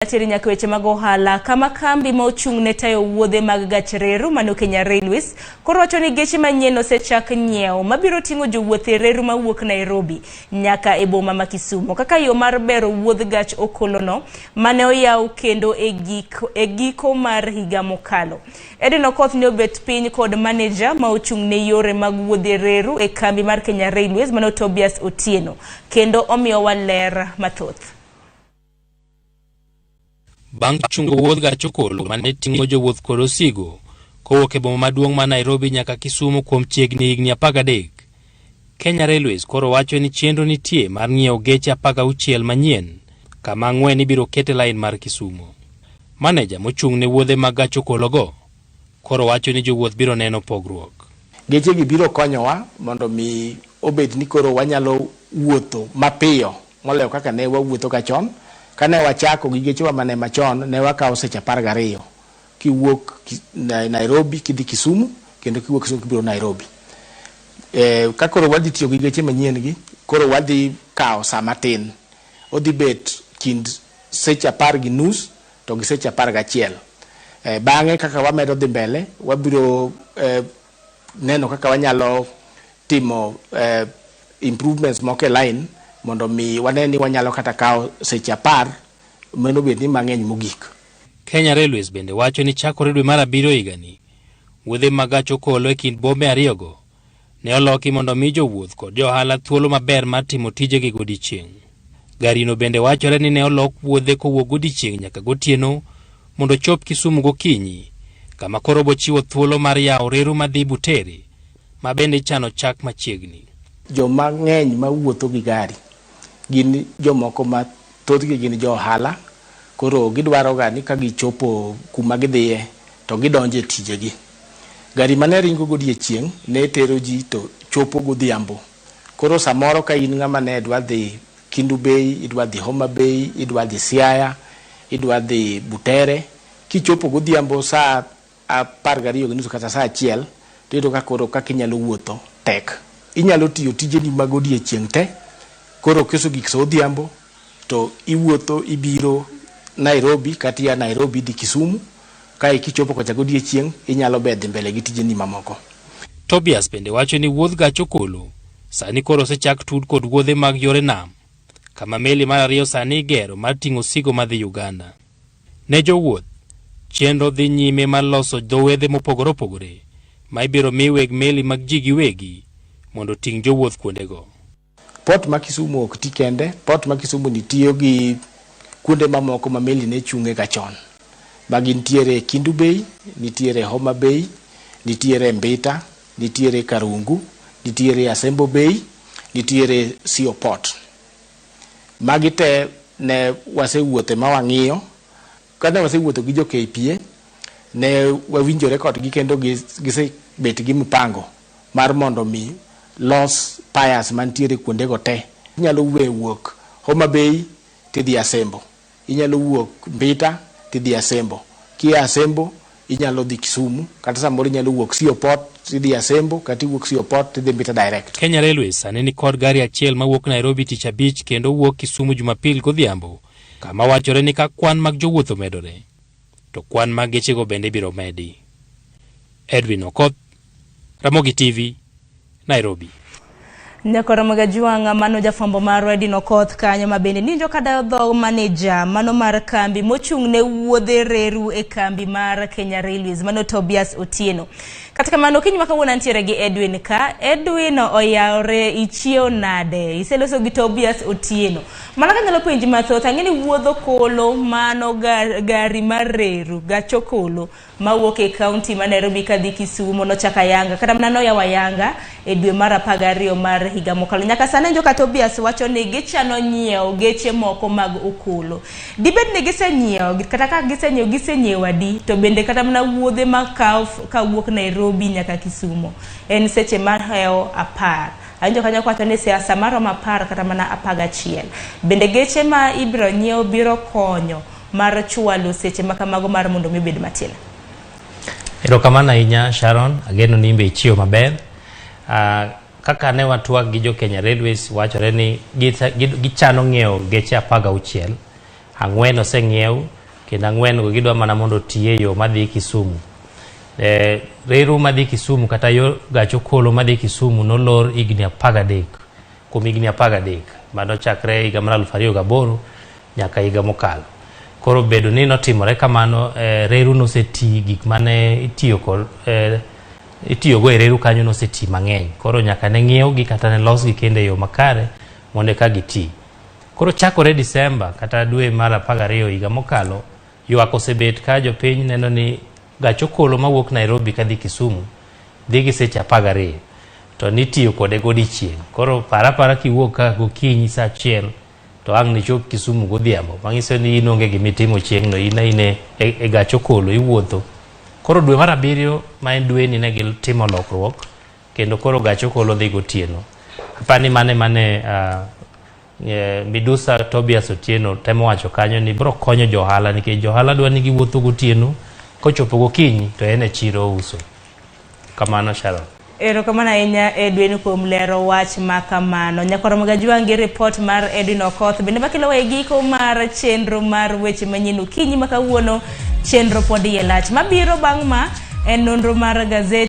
Ateri nyaka weche mag ohala kama kambi ma ochung' ne tayo wuodhe mag gach reru mano Kenya Railways koro wacho ni geche manyien osechak nyiewo mabiro ting'o jowuoth e reru mawuok Nairobi nyaka e boma ma Kisumo kaka yo mar bero wuodh gach okolono mane oyaw kendo e giko, e giko mar higa mokalo. Edwin Okoth ne obet piny kod maneja ma ochung' ne yore mag wuodhe reru e kambi mar Kenya Railways mano Tobias Otieno kendo omiyowa ler mathoth. Bang' chungo wuodh gach okolo ma ne ting'o jowuoth kod osigo kowuok e boma maduong' ma Nairobi nyaka Kisumu kuom chiegni higni 13, Kenya Railways koro wacho ni chenro nitie mar ng'iewo geche 16 manyien kama ang'wen ibiro ket e lain mar Kisumu. Maneja mochung' ne wuodhe mag gach okologo koro wacho ni jowuoth biro neno pogruok. Gechegi biro konyowa mondo mi obed ni koro wanyalo wuotho mapiyo. Moloyo kaka ne wawuotho ka chon, ka ne wachako gi gechewa ma ne machon, ne wakawo seche apar gariyo kiwuok Nairobi kidhi Kisumu kendo kiwuok Kisumu kibiro Nairobi. E, ka koro wadhi tiyo gi geche manyien gi, koro wadhi kawo saa matin. Odhi bet kind seche apar gi nus to gi seche apar gachiel. E, bang'e kaka wamedo dhi mbele, wabiro e, neno kaka wanyalo timo eh, improvements moko e line mondo mi wane ni wanyalo kata kawo seche apar mano bed ni mang'eny mogik. Kenya Railways bende wacho ni chakore dwe mar abiriyo higani, wuodhe mag gach okolo e kind bombe ariyogo ne oloki mondo omi jowuoth kod jo ohala thuolo maber mar timo tijegi godiechieng'. Garino bende wachore ni ne olok wuodhe kowuok godiechieng' nyaka gotieno mondo ochop Kisumu gokinyi, kama koro bochiwo thuolo mar yawo reru madhi Butere, ma bende ichano chak machiegni. Joma ng'eny ma wuotho gi gari gin jomoko ma thothgi gin jo ohala, koro gidwaroga ni ka gichopo kuma gidhiye to gidonjo e tijegi. Gari mane ringo godiechieng' ne tero ji to chopo godhiambo. Koro samoro ka in ng'ama ne dwa dhi Kindu Bay, idwa dhi Homa Bay, idwa dhi Siaya, idwa dhi Butere, kichopo godhiambo saa apar gariyo gi nusu kata saa achiel, to iyudo ka koro kaka inyalo wuotho tek. Inyalo tiyo tijeni mag odiechieng' te, koro kiso gik sa odhiambo, to iwuotho ibiro Nairobi kata ia Nairobi idhi Kisumu kae kichopo kocha godiechieng' inyalo be dhi mbele gi tijeni mamoko. Tobias bende wacho ni wuodh gach okolo sani koro osechak tud kod wuodhe mag yore nam kama meli mar ariyo sani igero mar ting'o osigo madhi Uganda. Ne jowuoth, chenro dhi nyime mar loso dho wedhe mopogore opogore ma ibiro mi weg meli mag ji giwegi mondo oting' jowuoth kuondego. Port ma Kisumu ok ti kende, port ma Kisumu ni tiyo gi kuonde mamoko ma meli ne chunge ga chon. Ma gin tiere Kindu Bay, nitiere Homa Bay, nitiere Mbita, nitiere Karungu, nitiere Asembo Bay, nitiere Sio Port. Magi te ne wasewuothe ma wang'iyo Kane wasewuotho gi jo KPA, ne wawinjore kodgi kendo gisebet gi mpango mar mondo mi los piers mantiere kuondego te. Inyalo we wuok Homa Bay tidhi Asembo, inyalo wuok Mbita tidhi Asembo, kia Asembo inyalo dhi Kisumu kata samoro inyalo wuok Sio Port tidhi Asembo kata iwuok Sio Port tidhi Mbita direct. Kenya Railways sani nikod gari achiel mawuok Nairobi tich abich kendo wuok Kisumu Jumapil godhiambo kama wachore ni ka kwan mag jowuoth omedore to kwan mag gechego bende biro medi. Edwin Okoth, Ramogi TV, Nairobi. Nyakoro mga juwanga mano jafwambo mar Redin Okoth kanyo ma bende ninjo kadayo dho maneja mano mar kambi mochung' ne wuodhe reru e kambi mar Kenya Railways mano Tobias Otieno. Kata kamano kiny maka wuon antiere gi Edwin ka. Edwin oyawre ichiew nade? Iseloso gi Tobias Otieno. Mana ka nyalo penji mathoth ang'e ni wuodho kolo mano gar, gari mar reru gacho kolo mawuok e kaunti ma Nairobi kadhi Kisumo nochaka Yanga kata mana noyawa Yanga e dwe mar apar gariyo mar higa mokalo. Nyaka sani joka Tobias wacho ni gichano nyiewo geche moko mag okolo. Dibed ni gisenyiewo kata ka gisenyiewo gisenyiewo adi to bende kata mana wuodhe ma kawuok Nairobi nyaka Kisumo en seche mar hewo apar awinjo kanyo kwacho ni siasa maromo apar kata mana apar gachiel bende geche ma ibiro nyiew biro konyo mar chwalo seche makamago mar mondo mi obed matin Erokamano ahinya Sharon, ageno ni imbe ichiwo maber. Uh, kaka ne watwag gi jo Kenya Railways wachore ni gichano ng'iewo geche apar gauchiel, ang'wen oseng'iew kendo ang'wen go gidwa mana mondo oti e yo madhi Kisumu. Eh, reru madhi Kisumu kata yo gach okolo madhi Kisumu nolor higni apar gadek. kuom higni apar gadek mano chakre higa mar aluf ariyo gaboro nyaka higa mokalo. Koro bedo ni notimore kamano eh, reru noseti gik mane itiyo kod eh, itiyogo e reru kanyo noseti mang'eny koro nyaka ne ng'iewgi kata ne losgi kendo e yo makare mondo eka giti. Koro chakore Disemba kata dwe mar apar gariyo higa mokalo Ywak osebet ka jopiny neno ni gach okolo mawuok Nairobi kadhi Kisumu dhi gi seche apar gariyo to nitiyo kode godiechieng'. Koro par apara kiwuok ka gokinyi sa achiel to ang' nichop Kisumu godhiambo, manyiso ni in onge gima itimo chieng'no, in aine e, e gach okolo iwuotho. Koro dwe mar abiriyo ma en dweni ne gitimo lokruok kendo koro gach okolo dhi gotieno. Apani mane mane uh, Eh, midusa Tobias Otieno temo wacho kanyo ni bro konyo johala nikech johala dwa ni giwuotho gotieno kochopo gokinyi to en e chiro ouso. Kamano Sharon. Erokamano ahinya Edwin kuom lero wach ma kamano. Nyakoromo Gajwang' gi report mar Edwin Okoth bende makelowa e giko mar chenro mar weche manyien okinyi ma kawuono chenro pod iye lach. Mabiro bang' ma en nonro mar gazet